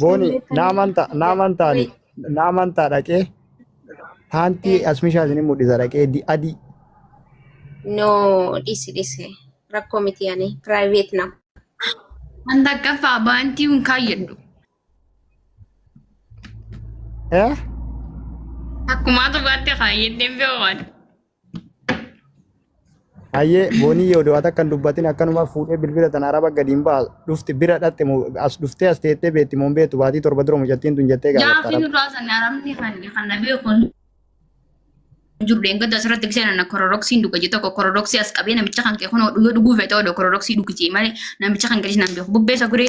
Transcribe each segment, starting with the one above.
Booni na amantaa na amantaani na amantaa dhaqee paantii asmishaa isin mul'isa dhaqee di- adii No, dhisi dhisi. Rakkoo miti ani private na. An takkaffaa baantii hin kaayyadhu. eh Akkumaa tokkotti kaayyadhee beekan. Hayyee boonii yoo du'aata akkan dubbatin akkanuma fuudhee bilbila tana araba gadi hin ba'a dhufti bira dhatte moo as dhuftee as teettee beetti moo hin beektu baatii torba dura mucattiin tun jettee gaafatta Gaaffii araba. nurraa sanne arabni kan kan na beeku hin jiru dheengadda asirratti gisee nana kororoksiin dhuga jee tokko kororoksii as qabee namicha kan kee kunoo dhugee dhuguu feetee odoo kororoksii dhugitee malee namicha kan gadis nan beeku bubbeessa guree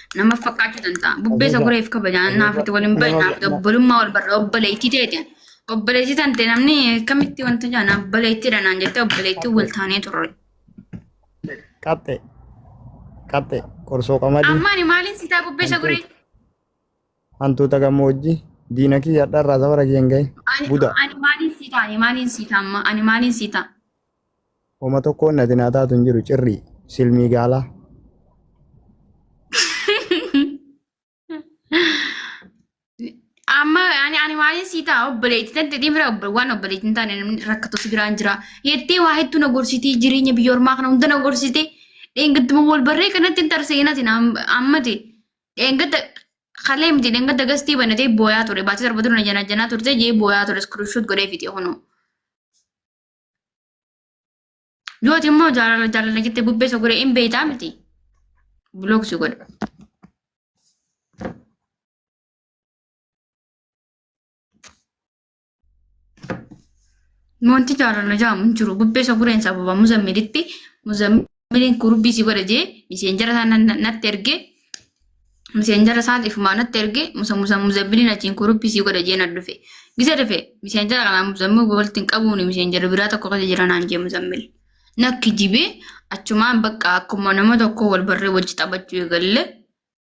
Nama fakkaachuu danda'a. Bubbeessa Ajaja. gureef kabajaan Ajaja. naaf itti waliin bahe Nama- naaf nama- obbolummaa wal barra obboleettii teete. Obboleettii tante namni akkamitti wanta jaan obboleettiidha naan jettee obboleettii wal taanee turre. Qaxxe. Qaxxe. Qorsoo qamadii. Amma ani maaliin sitaa bubbeessa Hantuuta. guree? Hantuuta gammoojjii. Diina kiyya har'arraa safara kiyya hin gahin. Ani Buda. ani maaliin sitaa? Ani maaliin sitaa amma? Ani maaliin sitaa? Homa tokkoon nati naa taatu hin jiru cirrii silmii gaalaa. Amma ani ani maaliin sii ta'a obboleetti tatti dhimma obbo waan obboleetti hin taane namni rakkatu si biraan jira. Jettee waa hedduu na gorsitii jireenya biyya ormaa kana hunda na gorsitee dheengattuma wal barree kanatti hin tarseenati ammati dheengatta kalee miti dheengatta gastii banatee booyaa ture baatee torba ture na janaa janaa turte jee booyaa ture iskiriishuut godhee fixee kunoo. Yooti immoo jaalala jaalala jettee bubbee sogoree hin beektaa miti. Block si godha. Wanti jaalala jaamu hin jiru. Bubbee sogoreen sababa muzammilitti muzammil Miliin gurbii si godha jee miseenjara isaa na- natti erge miseenjara isaa ifumaa natti erge musa musa muzambiliin achiin gurbii si godha jee na dhufe gisa dhufe miseenjara kanaa muzammil walitti hin qabuuni miseenjara biraa tokko keessa jira naan jee muzammil nakki jibee achumaan bakka akkuma nama tokko wal barree wajji taphachuu eegalle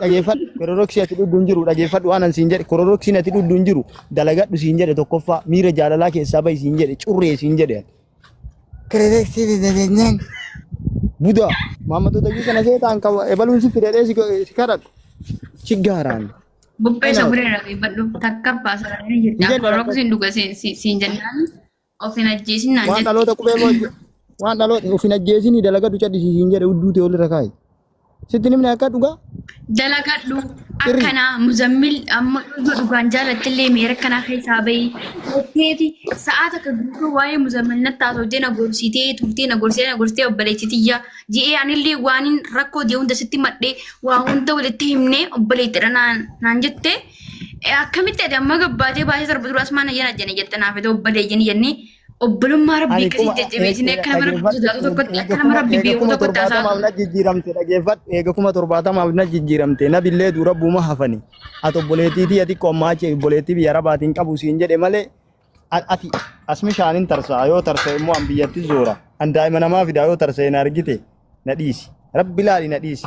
dhageeffadhu kororoksii ati dhudhu hin jiru dhageeffadhu waan an siin jedhe kororoksiin ati dhudhu hin jiru dalagadhu siin jedhe tokkoffaa miira jaalalaa keessaa bahi siin jedhe curree siin jedhe kororoksii dadadanyaan budaa maammattoota iyyuu kana seetaan qaba ebaluun si fidadhee si go- si kadhadhu si gaaraan Bubbee Ana- sabree dhageeffadhu takka baasaranii Hin jirta. jedhu Kororoksiin dhuga siin siin jennaan Of hin ajjeesin naan Waan jette. dhaloota qubee moo ajje- waan dhaloota of hin ajjeesinii dalagadu cadhisiisiin jedhe udduu ta'e olirra kaa'i. Sitti nimni akka dhugaa Dalagadhu Sirrii. akkanaa muzammil amma yoo dhugaan jaalattillee miira akkanaa keessaa bahi. Jetteeti sa'aa takka guutuu waa'ee muzammil natti haasofdee na gorsitee turtee na gorsitee na gorsitee obboleetti tiyya. Ji'ee anillee waanin rakkoo jee hunda sitti madhee waa hunda walitti himnee obboleettidha naan naan jettee. Akkamitti ati amma gabbaatee baasee sarba dura asmaan ayyan ajjane jette naaf ta'u obbalee jenni jenni obbolummaa rabbii Ani akkasii kuma jajjabeessinee akka nama rabbii sodaatu tokkotti akka nama rabbii eega beeku kuma tokkotti haasaa torbaatamaaf na jijjiiramte dhageeffadhu eega kuma torbaatamaaf na jijjiiramte na billee dura buuma hafani ati obboleettii tiyya xiqqoo ammaa achi obboleettii biyya rabaatiin qabu siin jedhe malee a- ati asmi shaanin tarsaa yoo tarsa immoo an biyyatti zoora an daa'ima namaa fidaa yoo tarsa hin argite na dhiisi rabbi laali na dhiisi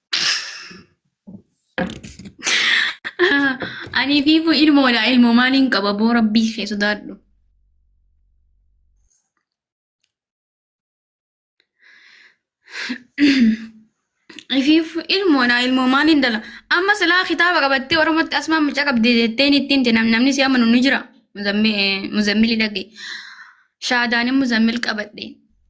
Ani fiifuu ilmoodha ilmo maaliin qaba boo rabbii kee sodaadhu. Fiifuu ilmoodha ilmo maaliin dala amma silaa kitaaba qabattee oromootti asmaan mucaa qabdee jetteen ittiin jenam namni si amanu ni jira muzammili dhagge shaadaanin muzammil qabadhe.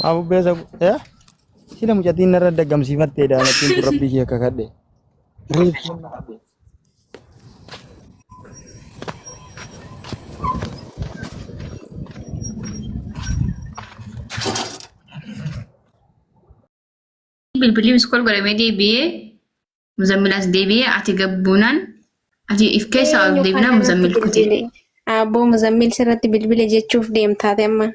Maa bubbee isa eh sila mucatiin narra daggamsiifattee daamattiin kun rabbii kee akka kadhe. bilbilli miskool godhamee deebi'ee muzammilaas deebi'ee ati gabbuunaan ati if keessaa ol deebinaa muzammil kutee. Abboo muzammil sirratti bilbile jechuuf deemtaate amma.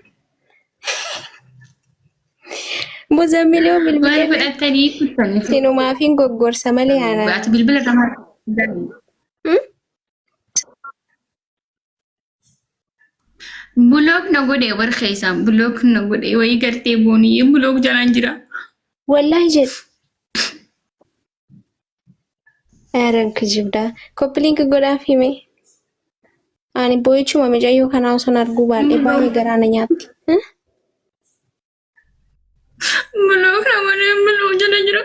Muzammil yoo Maal bilbile godhattanii kuttanii? sinumaafin goggorsa malee aanaa. Ati bilbila irraa maal? Bulook na godhe bar keessaan bulook na godhe wayii gartee boonii bulook jalaan jira. Wallaahi jedhu. Aaran kijibdaa. Koppiliinki godhaaf hime. Ani boo'ichuma mijayyoo kanaa osoo arguu baadhee baay'ee garaa na nyaatti. Hah? Bulook na godhe bulook jala jira.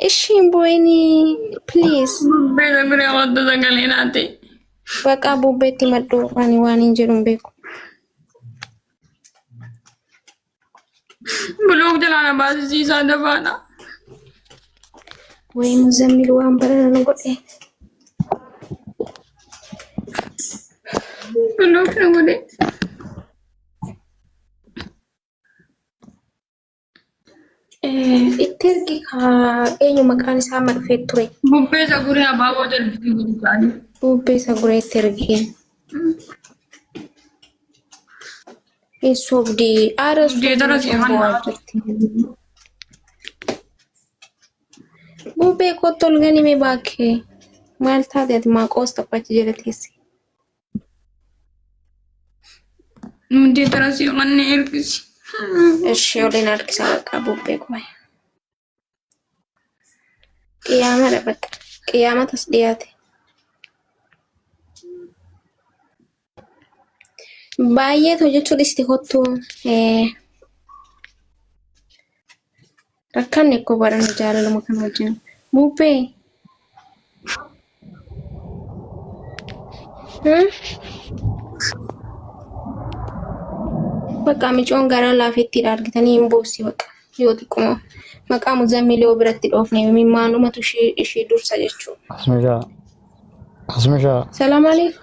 Ishii hin boo'inii please. Bubbee na bira wantu sagalee naati. Baqaa bubbeetti madhuu ani waan hin jedhu hin beeku. Buluug jalaa na baasisiisaa dabaadha. Wayii muzammil waan barana nu godhe. Buluug na godhe. Itti ergi eenyu maqaan isaa amma dhufee ture. Bubbee saguree abaaboo jalbisii guutuu ta'anii. Bubbee saguree itti ergi. Hin sobdi. Aara Deetara sobdi seeman bu'aa haati. jirti. Bubbee kottu ol ganime baakkee. Maal taate ati maaqoos taphachi jala teesse. Hundee tarasii manni ergisi. Ishi waliin harkisa bakka bubbee kuma. Qiyaamadha bakka. Qiyaamatas dhiyaate. Baay'ee hojjechuu dhisti kottu. Rakkanne koo barana jaalaluma kan wajjin. Buubbee. Hmm? Bakka micoon garaa laafetti argitanii hin boossi bakka yoo xiqquma. Maqaa muzammil yoo biratti dhoofne mimmaanumatu ishee ishee dursa jechuudha. Asmishaa. Asmishaa. Salaam alaikum.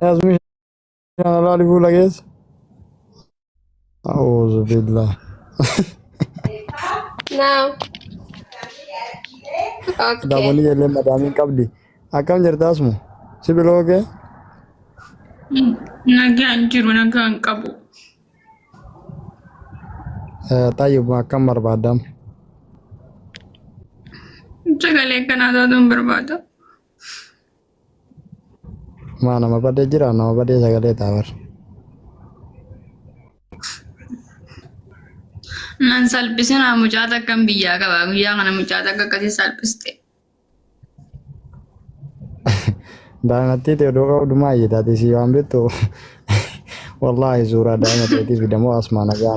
Yaasmin shan alaa dhibuu lageessa. A'uuzu billah. Naam. Okay. Dabalii illee madaamiin qabdi. Akkam jirta asmu? Si biloo kee? Nagaan jiru nagaan qabu. Xayyib akkam barbaadam? Sagalee kanaa taatuun barbaada. Maa nama badee jira nama badee sagalee taa bar. Nan salphisinaa mucaa takkan biyyaa qaba. Guyyaa kana mucaa takka akkasii salphiste. Daa'imatti ta'e odoo qabdu maa iyyataati si waan beektu. Wallaahi suuraa daa'ima ta'eetis fidamoo asmaa nagaa.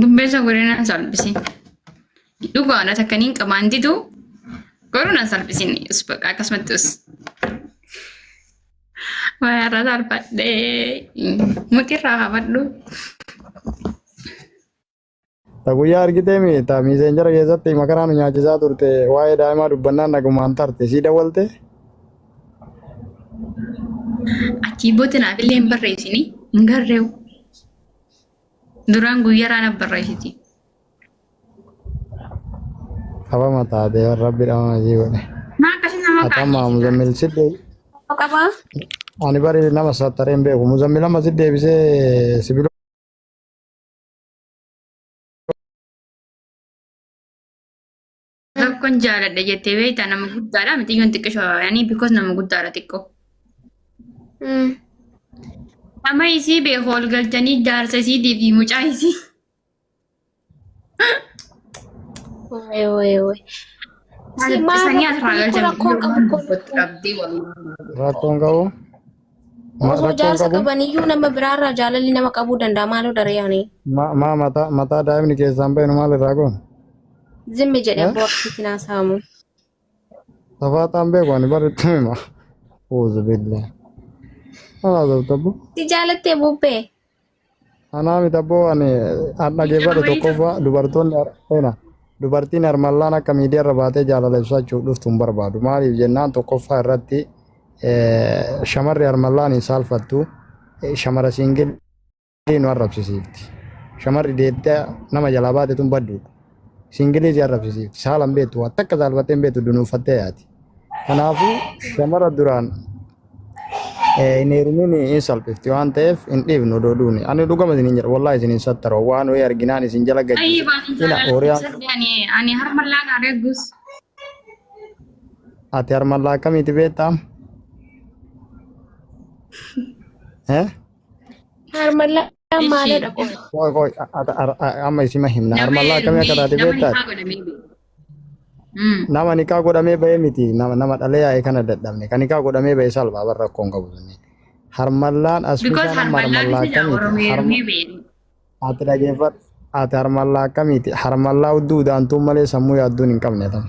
Dubbeessa godhina salphisi. Dhugaadha takka niin qabaan didu garuu na salphisin us baqa akkasumatti us. Wayarra salphadhee mutirraa hafadhu. Ta guyyaa argitee mi ta miiseenjara keessatti makaraa nu nyaachisaa turte waa'ee daa'imaa dubbannaan nagumaan tarte sii dawwalte Achii booda naaf illee hin barreessini hin garreewu. Duraan guyyaraa naaf barreessiti. Qabama taatee rabbi dhamama ishii godhe. Maa akkasii nama Akkam maa muzammil si deebi. Qaba. Ani bari nama saattaree hin beeku. Muzammil amma si deebisee sibiilota. Tokkon jaaladha jettee beektaa nama guddaadha mixiyyoon xiqqisho ani because nama guddaadha xiqqoo. Mm. Nama isii beeku ol galchanii jaarsa isiitii fi mucaa isii. Waay waay waay. Si maal Sanii asirraa rakkoo galchan rakkoo qabu kun. qabdee walii. Rakkoon qabu. Osoo Rakkoon jaarsa qabu qabaniyyuu nama biraarraa jaalalli nama qabuu danda'a maaloo daree ani. ma- maa mataa mataa daa'imni keessaan bahe nu maal irraa goona? Zimmi jedhe Eh? abboo akkasitti naa saamu. Tafaataan beeku ani bareedduu hima. Uuzu billee. Alaa zabtabbu. Si jaalattee bubbee. Anaa miti abboo ani an dhageeffadhe tokkoffaa dubartoonni ena dubartiin harmallaan akka miidiyaa irra baatee jaalala ibsachuuf dhuftu hin barbaadu. Maaliif jennaan tokkoffaa irratti eh, shamarri harmallaan hin saalfattu eh, shamara siingilii nu arrabsisiifti. Shamarri deettee nama jalaa baate tun badduudha. Singilii si arrabsisiifti. Saala hin beektu. Waa takka saalfattee hin beektu dunuuffattee yaati. Kanaafuu shamara duraan eh, hin heerumin hin salphifti waan ta'eef hin dhiifnu odoo duuni. Ani dhugama isin hin jedha. Wallaahi isin hin sattara. Waan ho'i arginaan isin jala gadi. Ayi bani Ina jala hooriyaan sadde ani ani harma laga regus. ati harmallaa akkamiiti beektaa? Eh? Harmallaa Isheen maalidha qoy? Qoy qoy a- a- a- a- amma isima himna. Armallaa akkamii akka taate beektaa? Nama nikaa godhamee bahee miti. Nama nama dhalee yaa'ee kana dadhabne. Kan nikaa godhamee bahee salphaa barra rakkoon qabu sunni. Harmallaan as Because bishaan amma harmallaan harmallaa isa akkamiiti? Oromoo Harma- ermee beeku. Ati dhageeffadhu. Ati harmallaa akkamiiti? Harmallaa hudduu udaantuun malee sammuu yaadduun hin qabne tama.